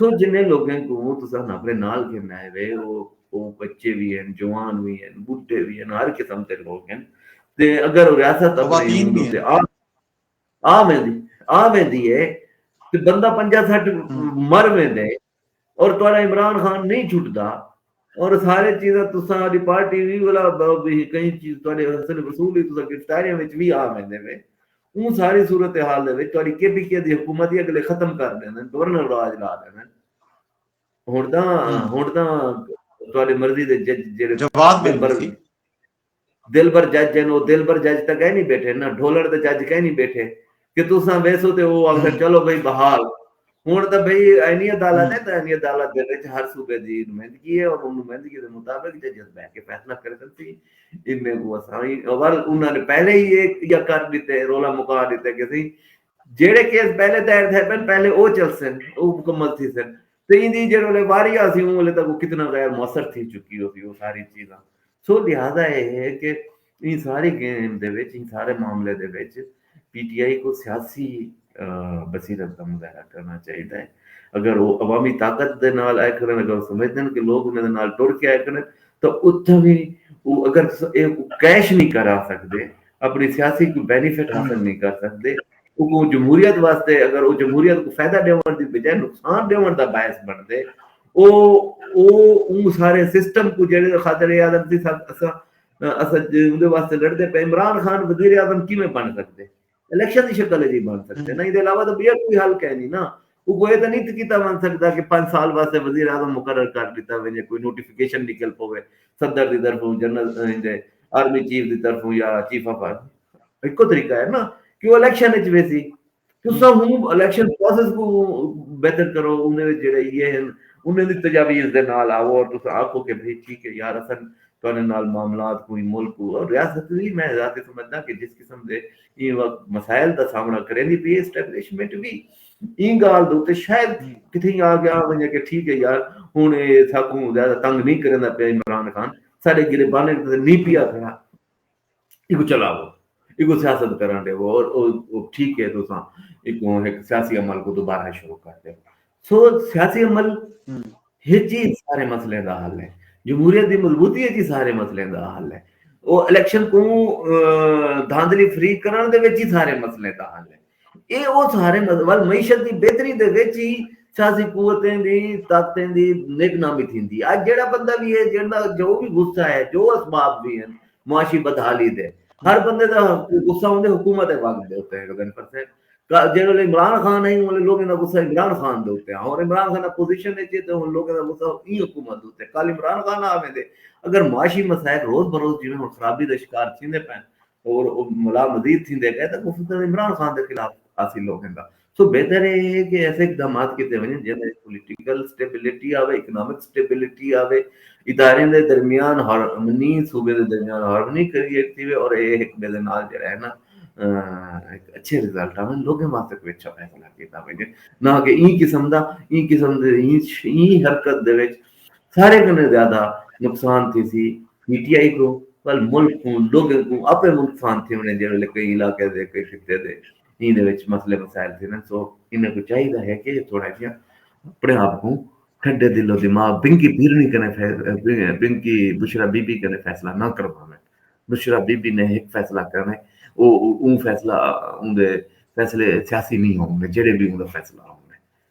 سو جنہیں لوگیں کوں تساں اپنے نال گھن آئے وے او او بچے وی ہن جوان وی ہن بڈھے وی ہن ہر قسم دے لوگ ہن تے اگر ریاست اپنے ہوں تے آ آ ویندی آ ویندی ہے تے بندہ پنجا سٹ مر ویندے اور تہاڈا عمران خان نہیں چھٹدا اور سارے چیزاں تساں آڈی پارٹی وی ولا بہو بہی کہیں چیز تہاڈے حسن وصول ہی تساں گرفتاریاں وچ وی آ ویندے وے اوں ساری صورت حال دے وچ تہاڈی کے پی کے دی حکومت ہی اگلے ختم کر ڈیندن گورنر راج لا ڈیندن ہن تاں ہن تاں تہاڈی مرضی دے جج جیڑھے جواد ممبر وی دلبر جج ہن او دلبر جج تاں کائنی بیٹھے نہ ڈھولڑ دے جج کائنی بیٹھے کہ تساں ویسو تے او آکھن چلو بھئی بحال ہن تاں بھئی آئینی عدالت ہے تاں آئینی عدالت دے وچ ہر صوبے دی نمائندگی ہے اور نمائندگی دے مطابق ججز بیٹھ کے فیصلہ کر سکدی انہیں کوں اساں اول انہاں نے پہلے ہی یا کر ڈتے رولا مکا ڈتے کہ سی جیڑھے کیس پہلے دائر تھئے پن پہلے او چلسن او مکمل تھیسن تے ایندی جیڑھے ویلے واری آسی اوں ویلے تک او کتنا غیر موثر تھی چکی ہوسی او ساری چیزاں سو لہذا اے ہے کہ ایں ساری گیم دے وچ ایں سارے معاملے دے وچ پی ٹی آئی کو سیاسی بصیرت دا مظاہرہ کرنا چاہیدا ہے اگر او عوامی طاقت دے نال آئے کھڑن اگر او سمجھدن کہ لوگ انہاں دے نال ٹر کے آئے کھڑن تاں اتھاں وی او اگر اے کیش نہیں کرا سکدے اپݨی سیاسی کوئی بینیفٹ حاصل نئیں کر سڳدے، اگوں جمہوریت واسطے اگر او جمہوریت کوں فیدہ ݙیوݨ دی بجائے نقصان ݙیوݨ دا باعث بݨدے او او اوں سارے سسٹم کوں جیڑھے دے خاطر اے آدھن تھی ساکوں اساں اساں اوندے واسطے لڑدے پئے عمران خان وزیر اعظم کیویں بݨ سڳدے؟ الیکشن دی شکل اچ ای بݨ سڳدے نہ ایندے علاوہ تاں ٻیا کوئی حل کائنی نہ اوکوں اے تاں نی کیتا ونج سگدا کہ پنج سال واسطے وزیر اعظم مقرر کر ڈتا ونجے، کوئی نوٹیفکیشن نکل پوے صدر دی طرفوں، جنرل ایندے آرمی چیف دی طرفوں یا چیف آف آرمی۔ ہکو طریقہ اے نا کہ او الیکشن وچ ویسی۔ تساں ہوں الیکشن پروسیس کوں بہتر کرو، اوندے وچ جیڑھے ایہے ہن انہاں دی تجاویز دے نال آؤ اور تساں آکھو کہ بھئی ٹھیک اے یار اساں تہاڈے نال معاملات کوں ایں ملک کوں اور ریاست وی میں ذاتی سمجھداں کہ جس قسم دے ایں وقت مسائل دا سامنڑاں کریندی پئی اے اسٹیبلشمنٹ وی ایں گالھ دے اتے شاید کتھیں آ گیا ونجے کہ ٹھیک ہے یار ہن اے ساکوں زیادہ تنگ نی کریندا پیا عمران خان ساڈے گریبانیں کیتے تے نی پیا کھڑا ایکوں چلاؤ ایکوں سیاست کرن ڈیو اور او ٹھیک ہے تساں ایکوں ہک سیاسی عمل کو دوبارہ شروع کر دیو سو سیاسی عمل ہچ ہی سارے مسئلے دا حل ہے جمہوریت دی مضبوطی ہچ ہی سارے مسئلے دا حل ہے او الیکشن کوں دھاندلی فری کرن دے وچ ہی سارے مسئلے دا حل ہے اے او سہارے مذہب ول معیشت دی بہتری دے وچ ہی سیاسی قوتیں دی طاقتیں دی نیک نامی تھیندی اج جیڑا بندہ وی ہے جیڑا جو وی غصہ ہے جو اسباب وی ہیں معاشی بدحالی دے ہر بندے دا غصہ ہوندے حکومت ہے وقت دے اوتے ہے پر سے جیڑے ویلے عمران خان ہے انہاں لوگوں دا غصہ عمران خان دے اوتے ہن عمران خان اپوزیشن وچ تے ہن لوگوں دا غصہ ای حکومت اوتے کل عمران خان آویں دے اگر معاشی مسائل روز بروز جویں ہن خرابی دا شکار تھیندے پئے اور او ملا مزید تھیندے گئے تاں کو صدر عمران خان دے خلاف حاصل ہو گھندا۔ سو بہتر ایہ ہے کہ ایسے اقدامات کیتے ونجن جیں دے پولیٹیکل سٹیبلٹی آوے، اکنامک سٹیبلٹی آوے، اداریں دے درمیان ہارمنی، صوبے دے درمیان ہارمنی کریٹ تھیوے اور ایہ ہک ٻئے دے نال جیڑھا ہے نا ہک اچھے رزلٹ آون۔ لوگیں واسطے کوئی اچھا فیصلہ کیتا ونجے۔ نہ کہ ایں قسم دا ایں قسم دے ایں حرکت دے وچ ساریں کنیں زیادہ نقصان تھیسی پی ٹی آئی کوں ول ملک کوں لوگیں کوں اپے نقصان تھیونے جے ویلے کئی علاقے دے کئی خطے دے ایں دے وچ مسئلے مسائل تھیندن سو انہاں کوں چاہیدا ہے کہ تھوڑا جیاں اپنے آپ کوں ٹھڈے دل و دماغ بنکی بھیرنی کنے بنکی بشرا بی بی کنے فیصلہ نہ کرواویں بشرا بی بی نے ہک فیصلہ کرنا ہے او اون فیصلہ اون دے فیصلے سیاسی نہیں ہوں گے جڑے بھی اون دا فیصلہ ہوں گے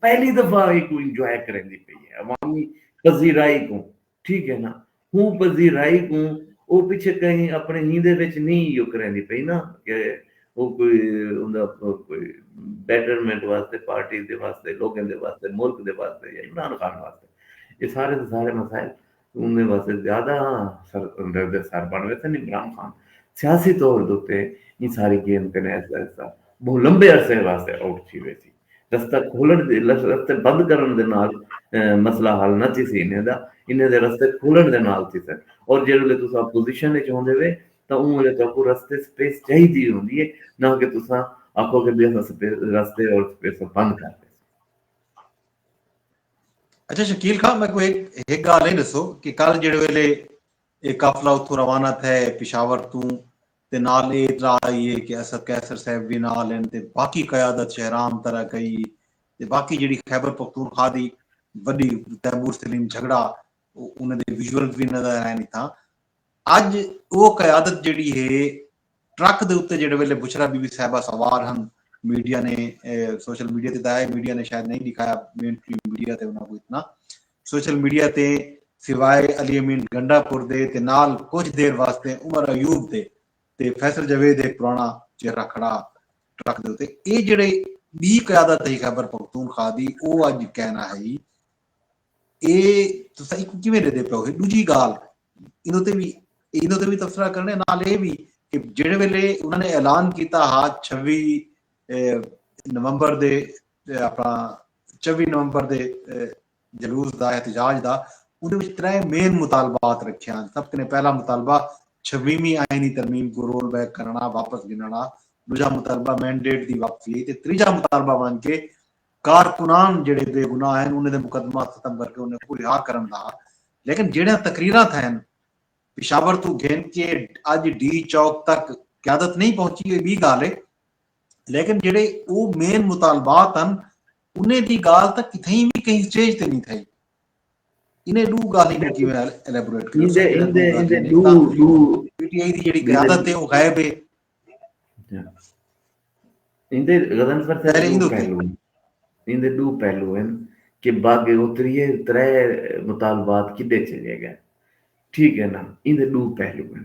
پہلی دفعہ ہی کوں انجوائے کریندی پئی ہے عوامی پذیرائی کوں ٹھیک ہے نا ہوں پذیرائی کوں او پچھے کہیں اپنے ہیندے وچ نی ایو کریندی پئی نا کہ او کوئی اوندا کوئی بیٹرمنٹ واسطے پارٹی دے واسطے لوگیں دے واسطے ملک دے واسطے یا عمران خان واسطے اے سارے دے سارے مسائل اوندے واسطے زیادہ سر اندر دے سر بن وے تن عمران خان سیاسی طور دے اتے ایں ساری گیم کنے ایسا ایسا بہت لمبے عرصے واسطے آؤٹ تھی ویسی رستہ کھولݨ دے رستے بند کرݨ دے نال مسئلہ حل نہ تھیسی انہیں دا انہیں دے رستے کھولݨ دے نال تھیسن اور جیڑھے ویلے تساں اپوزیشن وچ ہوندے وے تاں اوں ویلے تہاکوں رستے سپیس چاہیدی ہوندی ہے نہ کہ تساں آکھو کہ بھئی اساں رستے اور سپیس بند کر ݙیسوں۔ اچھا شکیل خان میں کوئی ایک گال ہے دسو کہ کل جڑے ویلے ایک قافلہ اتھوں روانہ تھے پشاور توں تے نال اے اطلاع آئی اے کہ اسد قیصر صاحب وی نال ہن تے باقی قیادت شہرام طرح کئی ای تے باقی جیڑھی خیبر پختونخوا دی وڈی تیمور سلیم جھگڑا انہاں دے ویژولز وی نظر آئن اتھاں اج او قیادت جیڑھی ہے ٹرک دے اتے جیڑھے ویلے بشرا بی بی صاحبہ سوار ہن میڈیا نے سوشل میڈیا تے تاں ہے میڈیا نے شاید نئیں ڈکھایا مین سٹریم میڈیا تے انہاں کوں اتنا سوشل میڈیا تے سوائے علی امین گنڈا پور دے تے نال کجھ دیر واسطے عمر ایوب دے تے فیصل جاوید ہک پراݨا چہرہ کھڑا ٹرک دے اتے اے جیڑھے ٻی قیادت ہئی خیبر پختونخوا دی او اڄ کائنا ہئی اے تساں ایکوں کیویں ݙیدے پیو ہی ݙوجھی ڳالھ ایندے اتے وی ایندے اتے وی تبصرہ کرݨے نال اے وی کہ جیڑھے ویلے انہاں نے اعلان کیتا ہا چھوی نومبر دے اپݨا چوی نومبر دے جلوس دا احتجاج دا اندے وچ ترے مین مطالبات رکھے ہن۔ سب کنیں پہلا مطالبہ چھویویں آئینی ترمیم کوں رول بیک کرݨا، واپس گھنݨا، ݙوجھا مطالبہ مینڈیٹ دی واپسی تے تریجھا مطالبہ ونڄ کے کارکنان جیڑھے بے گناہ ہن انہیں دے مقدمات ختم کر کے انہیں کوں رہا کرݨ دا ہا لیکن جیڑھیاں تقریراں تھئن پشاور توں گھن کے اڄ ڈی چوک تک قیادت نئیں پہنچی اے ٻی ڳالھ اے۔ لیکن جیڑھے او مین مطالبات ہن انہیں دی گالھ تاں کتھائیں وی کہیں سٹیج تے نی تھائی۔ انہیں ڈو گالھیں کوں کیویں الیبوریٹ کریساں جیڑھاں ڈو گالھیں نی تاں پی ٹی آئی دی جیڑھی قیادت ہے او غائب ہے۔ ایندے غضنفر صاحب دو پہلو ہن ایندے دو پہلو ہن کہ باغ اتریے ترے مطالبات کڈے چلے گئے ٹھیک ہے نا ایندے دو پہلو ہن۔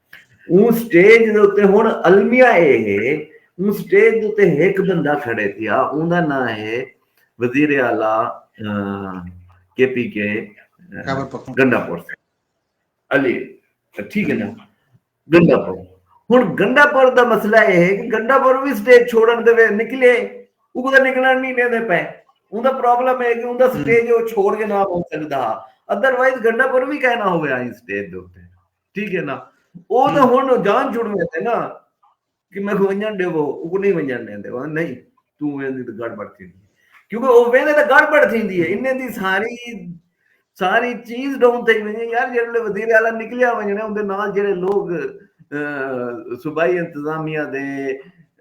اوں سٹیج دے اتے ہݨ المیہ اے ہے اوں سٹیج دے اتے ہک بندہ کھڑے تھیا اوں دا ناں ہے وزیر اعلی کے پی کے گنڈا پور علی ٹھیک ہے نا گنڈا پور ہن گنڈا پور دا مسئلہ اے ہے کہ گنڈا پور وی سٹیج چھوڑن دے نکلے او کدا نکلن نہیں دیندے پے اون دا پرابلم ہے کہ اون دا سٹیج او چھوڑ کے نہ ہو سکدا ادر وائز گنڈا پور وی کہنا ہویا اس سٹیج دے اوپر ٹھیک ہے نا او تے ہن جان چھوڑ میں تے نا کہ میں کو ونجن دے وہ کو نہیں ونجن دے دے وہ نہیں تو ویندی تے گڑ بڑ تھی کیونکہ او ویندے تے گڑ بڑ تھی دی ہے انہیں دی ساری ساری چیز ڈون تھی ونجے یار جڑے لے وزیر اعلی نکلیا ونجنے ان دے نال جڑے لوگ صوبائی انتظامیہ دے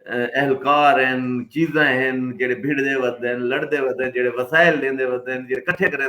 اہلکار ہیں چیزاں ہیں جڑے بھیڑ دے ودن لڑ دے ودن جڑے وسائل دے ودن جڑے کٹھے کرے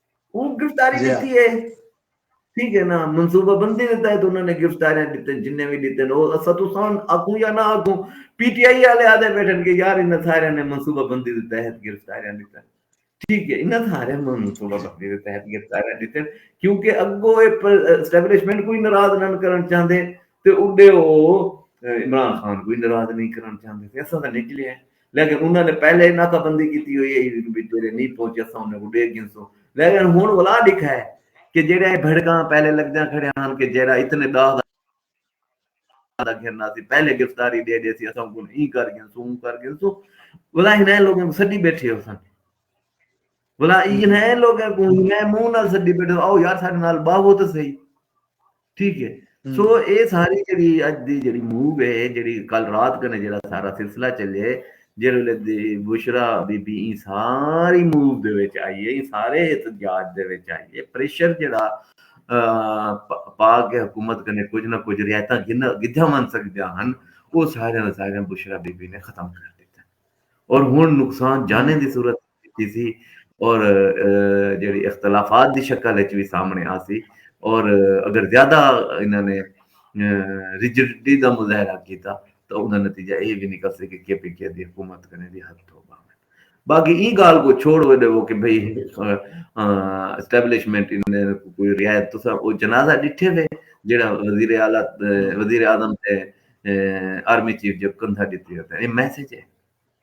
اوں گرفتاری ݙتی ہے ٹھیک ہے نا منصوبہ بندی دے تحت انہاں نے گرفتاریاں ݙتن جنہیں وی ݙتن او اساں تساں آکھوں یا نہ آکھوں پی ٹی آئی والے آدھے بیٹھن کہ یار انہاں سارے نے منصوبہ بندی دے تحت گرفتاریاں ݙتن ٹھیک ہے انہاں سارے منصوبہ بندی دے تحت گرفتاریاں ݙتن کیونکہ اگو اے اسٹیبلشمنٹ کوئی ناراض نہ کرن چاہندے تے اڈے او عمران خان کوئی ناراض نہیں کرن چاہندے تے اساں دا نکلے ہیں لیکن انہاں نے پہلے ہی ناکہ بندی کیتی ہوئی ہئی جو بھئی جیڑھے نی پہنچے اساں انہاں کوں ڈیکھ گھنسوں لیکن ہن ولا ڈکھ ہے کہ جیڑھے اے بھڑکاں پہلے لگدیاں کھڑے ہن کہ جیڑھا اتنے ڈاہ دا دا گھن آسی پہلے گرفتاری ڈے ڈیسی اساں کوں ایں کر گھنسوں اوں کر گھنسوں ولا ہنیں لوگوں کوں سڈی بیٹھے ہوسن بلا اینا اے لوگاں کو میں منہ نال سڈی بیٹھا او یار ساڈے نال باہو تے صحیح ٹھیک ہے سو اے ساری جڑی اج دی جڑی موو ہے جڑی کل رات کنے جڑا سارا سلسلہ چلے جڑے دی بشرا بی بی این ساری موو دے وچ آئی ہے سارے احتجاج دے وچ آئی ہے پریشر جڑا پاک حکومت کنے کچھ نہ کچھ رعایتاں گدھا من سکدے ہن او سارے سارے بشرا بی بی نے ختم کر دیتا اور ہن نقصان جانے دی صورت کیتی سی اور جیڑھی اختلافات دی شکل اچ وی سامنے آسی اور اگر زیادہ انہاں نے ریجڈٹی دا مظاہرہ کیتا تاں اوندا نتیجہ ایہ وی نکل سی کہ کے پی کے دی حکومت کنے وی ہتھ دھو ٻاوݨ۔ باقی ایں ڳالھ کوں چھوڑ وے ݙیوو کہ بھئی اسٹیبلشمنٹ انہاں کوں کوئی رعایت تساں او جنازہ ݙٹھے وے جیڑھا وزیر اعلی وزیر اعظم تے آرمی چیف جو کندھا ݙتی اتے اے میسج اے۔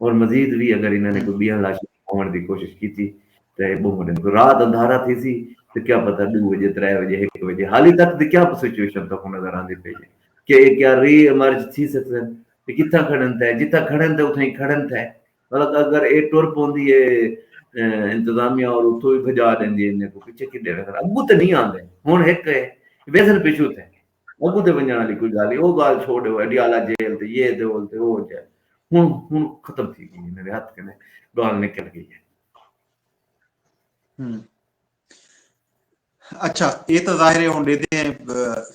اور مزید وی اگر انہاں نے کوئی بیاں لاشاں کھوہنڑ دی کوشش کیتی تاں اے بہوں وڈے مسئلے رات اندھارا تھیسی تاں کیا پتہ ڈو وجے ترے وجے ہک وجے حالی تک دی کیا سچویشن تہاکوں نظر آندی پئی اے کہ اے کیا ری ایمرج تھی سگدن اے کتھاں کھڑن تھے جتھاں کھڑن تھے اتھاں ای کھڑن تھے مطلب اگر اے ٹر پوندی اے انتظامیہ اور اتھوں وی بھجا ڈیندی اے انہاں کوں پچھے کڈے ویسن اگوں تاں نہیں آندے ہن ہک اے ویسن پچھوں تھے اگوں تے ونجنڑ آلی کوئی گالھ ہی او گالھ چھوڑ ڈیو اڈیالہ جیل تے یہ تے اول تے او جے ہن ہن ختم تھی گئی میرے ہتھ کنے گالھ نکل گئی ہے ہم اچھا اے تو ظاہر ہے ہن دیدے ہیں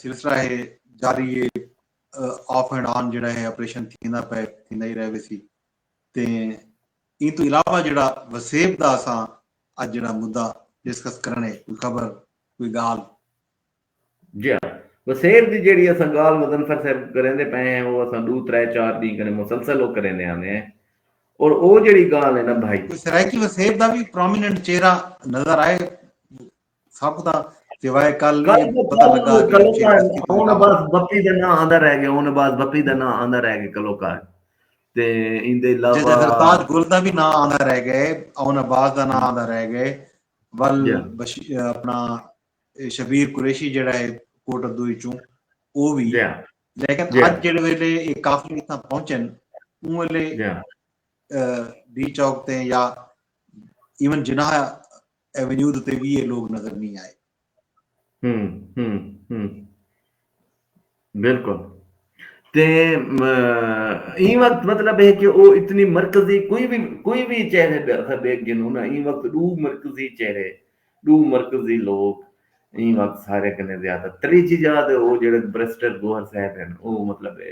سلسلہ ہے جاری ہے آف اینڈ آن جڑا ہے آپریشن تھیندا پے تھیندا ہی رہے سی تے این تو علاوہ جڑا وسیب دا اساں اج جڑا مدعا ڈسکس کرنے کوئی خبر کوئی گال جیا وسیب دی جیڑھی اساں گالھ مظنفر صاحب کوں کریندے پئے ہیں او اساں ڈو ترے چار ڈینہہ کنیں مسلسل او کریندے آندے ہیں اور او جیڑھی گالھ ہے نا بھائی۔ کوئی سرائیکی وسیب دا وی پرومیننٹ چہرہ نظر آئے ساکوں تاں سوائے کل اے پتہ لگا کہ کلو کار ہن بس بپی دا ناں آندا رہ گئے ہن بس بپی دا ناں آندا رہ گئے کلو کار تے ایندے علاوہ جے سرتاج گل دا وی ناں آندا رہ گئے اون عباس دا ناں آندا رہ گئے ول اپنا شبیر قریشی جیڑھا ہے کوٹ ادو وچوں او وی لیکن اج جیڑھے ویلے اے قافلے اتھاں پہنچن اوں ویلے ڈی چوک تے یا ایون جناح ایونیو تے وی اے لوگ نظر نہیں آئے ہم ہم ہم بالکل تے ایں وقت مطلب ہے کہ او اتنی مرکزی کوئی بھی کوئی بھی چہرے اسا دیکھ گھنوں نا ایں وقت ڈو مرکزی چہرے ڈو مرکزی لوگ ایں وقت سارے کنے زیادہ تریجی جا تے او جیڑھے بریسٹر گوہر صاحب ہن او مطلب ہے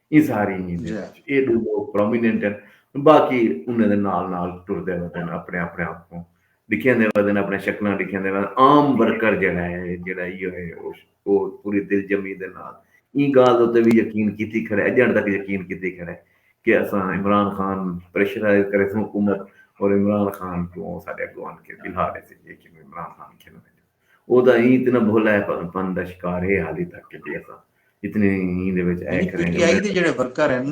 ایں ساری ہی دے وچ اے ڈو لوگ پرومیننٹ ہن باقی انہاں دے نال نال ٹردے ودن اپنے اپنے آپ کوں ڈکھیندے ودن اپنے شکلاں ڈکھیندے ودن عام ورکر جیڑا ہے جیڑا ایہو ہے او پوری دل جمی دے نال ایں گالھ دے اتے وی یقین کیتی کھڑا ہے اجنڑ تک یقین کیتی کھڑا ہے کہ اساں عمران خان پریشرائز کریسوں حکومت اور عمران خان کوں او ساڈے اگوں آن کے بلھا ڈیسی جی کہ عمران خان کھیلوں او دا ایں تے نہ بھولا اے پر پن دا شکار اے حالی تک کہ جی اساں اتنے ایں دے وچ اے کریں گے میں جڑے ورکر ہن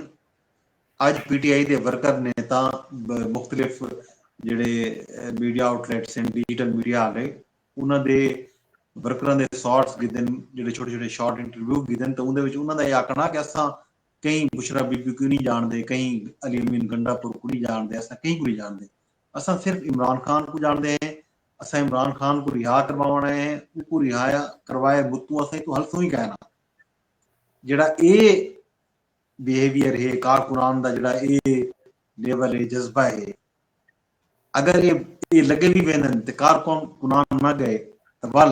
اج پی ٹی آئی دے ورکر نے تاں مختلف جڑے میڈیا آؤٹ لیٹس ہیں ڈیجیٹل میڈیا والے انہاں دے ورکراں دے سارٹس گدن جڑے چھوٹے چھوٹے شارٹ انٹرویو گدن تو اندے وچ انہاں دا یہ آکھنا کہ اساں کہیں بشرا بی بی کو نہیں جان دے کہیں علی امین گنڈا پور کو نہیں جان دے اساں کہیں کو نہیں جان دے اساں صرف عمران خان کوں جاݨدے ہیں اساں عمران خان کوں رہا کرواوݨ آئے ہیں اوکوں رہا کروائے بتوں اساں ایتوں ہلسوں ہی کائے نہ جیڑھا اے بیہیویئر ہے کارکنان دا جیڑھا اے لیول ہے جذبہ ہے اگر اے لگے وی ویندن تے کارکنان نہ گئے تاں ول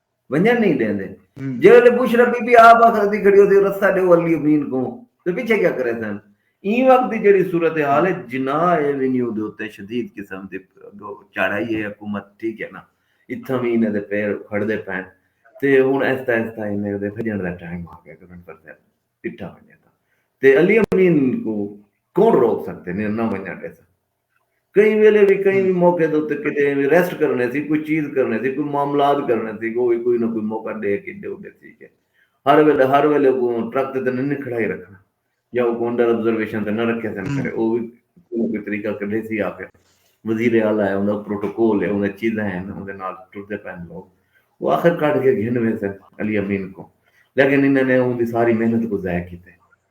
ونجن نہیں دیندے جے ویلے بشرا بی بی آپ آخر دی کھڑی ہوتی رسا ڈیو علی امین کو تے پیچھے کیا کرے سن این وقت دی جڑی صورتحال ہے جناح ایونیو دے اوتے شدید قسم دی چاڑھائی ہے حکومت ٹھیک ہے نا اتھاں وی انہاں دے پیر کھڑ دے پین تے ہن ایستا ایستا انہاں دے بھجن دا ٹائم آ گیا گورنمنٹ پر تے پٹھا ونجے تے علی امین کو کون روک سکتے نے نہ ونجن دے سن کہیں ویلے وی کہیں وی موقع دے اتے کڈے ایویں ریسٹ کرنڑیں سی کوئی چیز کرنڑیں سی کوئی معاملات کرنڑیں سی او وی کوئی نہ کوئی موقع ڈے کے ڈے اڈے سی کے ہر ویلے ہر ویلے او ٹرک تے نہ کھڑائی رکھنا یا او انڈر آبزرویشن تے نہ رکھے سن کرے او وی کوئی طریقہ کڈے سی آکے وزیر اعلی ہے انہاں پروٹوکول ہے انہاں چیزاں ہیں انہاں دے نال ٹردے پین لوگ او آخر کڈ کے گھن ویسے علی امین کو لیکن انہاں نے اون دی ساری محنت کو ضائع کیتے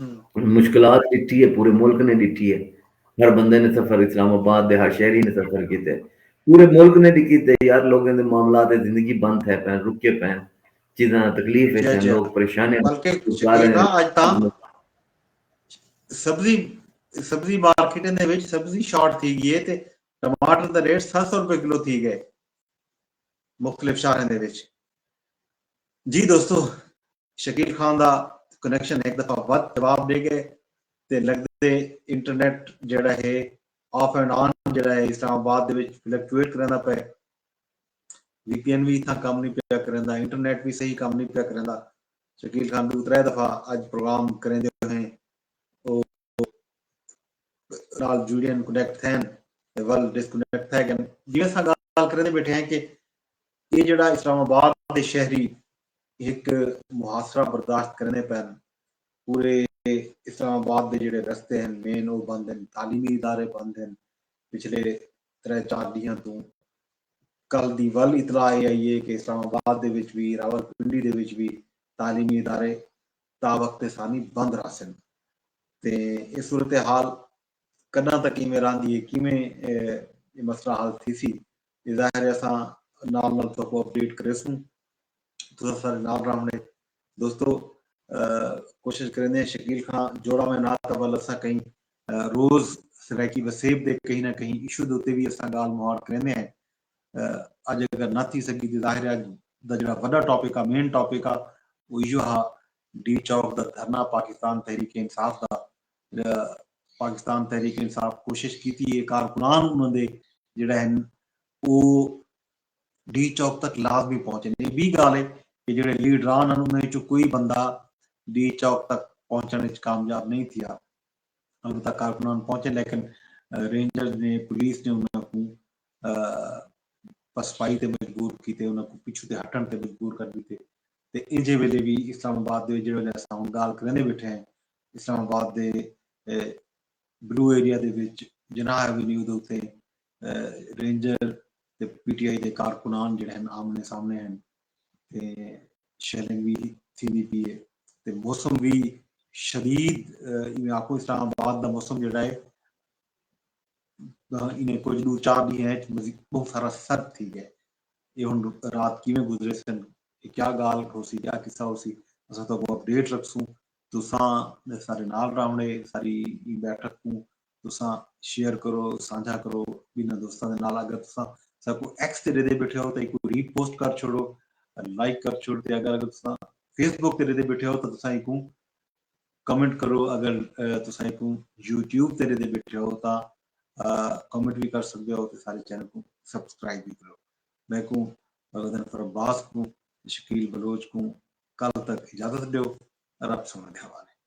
انہیں مشکلات ڈٹھی ہے پورے ملک نے ڈٹھی ہے ہر بندے نے سفر اسلام آباد دے ہر شہری نے سفر کیتے ہیں پورے ملک نے ڈٹھی ہے یار لوگوں دے معاملات زندگی بند ہے پہن رکے پہن چیزاں تکلیف ہے لوگ پریشان ہیں بلکہ سبزی سبزی مارکیٹ دے وچ سبزی شارٹ تھی گئی ہے تے ٹماٹر دا ریٹ 700 روپے کلو تھی گئے مختلف شہراں دے وچ جی دوستو شکیل خان دا کنیکشن ہک دفعہ ودھ جواب ݙے ڳئے تے لڳدے انٹرنیٹ جیڑھا ہے آف اینڈ آن جیڑھا ہے اسلام آباد دے وچ فلیکچویٹ کریندا پئے۔ وی پی این وی اتھاں کم نی پیا کریندا انٹرنیٹ وی صحیح کم نی پیا کریندا۔ شکیل خان ݙو ترے دفعہ اڄ پروگرام کریندے ہوئیں او نال جڑین کنیکٹ تھین تے ول ڈس کنیکٹ تھے گن جی اساں گال کریندے بیٹھے ہیں کہ یہ جڑا اسلام آباد دے شہری ایک محاصرہ برداشت کریندے پین پورے اسلام آباد دے جڑے رستے ہیں مین او بند ہیں تعلیمی ادارے بند ہیں پچھلے ترے چار ڈیہاں توں کل دی ول اطلاع یہ آئی ہے کہ اسلام آباد دے وچ بھی راول پنڈی دے وچ بھی تعلیمی ادارے تاوقت ثانی بند رہسن تے اے صورتحال کݙاں تک ایویں رہندی اے کیویں اے مسئلہ حل تھیسی اے ظاہر اے اساں نال نال تہاکوں اپ ڈیٹ کریسوں تساں سارے نال راہوݨے دوستو کوشش کریندے ہیں شکیل خاں جوڑاں میں نال تاں ول اساں کہیں روز سرائیکی وسیب دے کہیں نہ کہیں ایشو دے اتے وی اساں گالھ مہاڑ کریندے ہیں اڄ اگر نہ تھی سگی تے ظاہر ہے اڄ دا جیڑھا وݙا ٹاپک آ مین ٹاپک آ او ایہو ہا ڈی چوک دا دھرنا پاکستان تحریک انصاف دا پاکستان تحریک انصاف کوشش کیتی ہے کارکنان انہاں دے جیڑھے ہن او ڈی چوک تک لازمی پہنچن اے بی گالھ ہے کہ جیڑھے لیڈران ہن انہاں وچوں کوئی بندہ ڈی چوک تک پہنچن وچ کامیاب نہیں تھیا البتہ کارکنان پہنچے لیکن رینجرز نے پولیس نے انہاں کوں پسپائی تے مجبور کیتے انہاں کوں پچھوں تے ہٹݨ تے مجبور کر ݙتے تے ایجھے ویلے وی اسلام آباد دے جیڑھے ویلے اساں ہݨ ڳالھ کریندے ٻیٹھے ہیں اسلام آباد دے بلو ایریا دے وچ جناح ایونیو دے اتے رینجر تے پی ٹی آئی دے کارکنان جیڑھے ہن آمنے سامنے ہن۔ تے شیلنگ وی تھیندی پی اے تے موسم وی شدید ایویں آکھو اسلام آباد دا موسم جیڑھا اے انہیں کجھ ڈو چار ڈینہاں اچ بہوں سارا سرد تھی گئے اے ہن رات کیویں گزرے سن اے کیا گال ہوسی کیا قصہ ہوسی اساں تہاکوں اپڈیٹ رکھسوں تساں سارے نال راونے ساری ایں بیٹھک کوں تساں شیئر کرو سانجھا کرو ٻنھاں دوستاں دے نال اگر تساں ساکوں ایکس تے ݙیندے ٻیٹھے ہو تاں ایکوں ری پوسٹ کر چھوڑو لائک کر چھوڑ تے اگر اگر تساں فیس بک تے ݙیندے ٻیٹھے ہو تاں تساں ایکوں کمنٹ کرو اگر تساں ایکوں یوٹیوب تے ݙیندے ٻیٹھے ہو تاں کمنٹ وی کر سڳدے ہو تے سارے چینل کوں سبسکرائب وی کرو میں کوں غزن فرباز کوں شکیل بلوچ کوں کل تک اجازت ݙیو رب سونے دے حوالے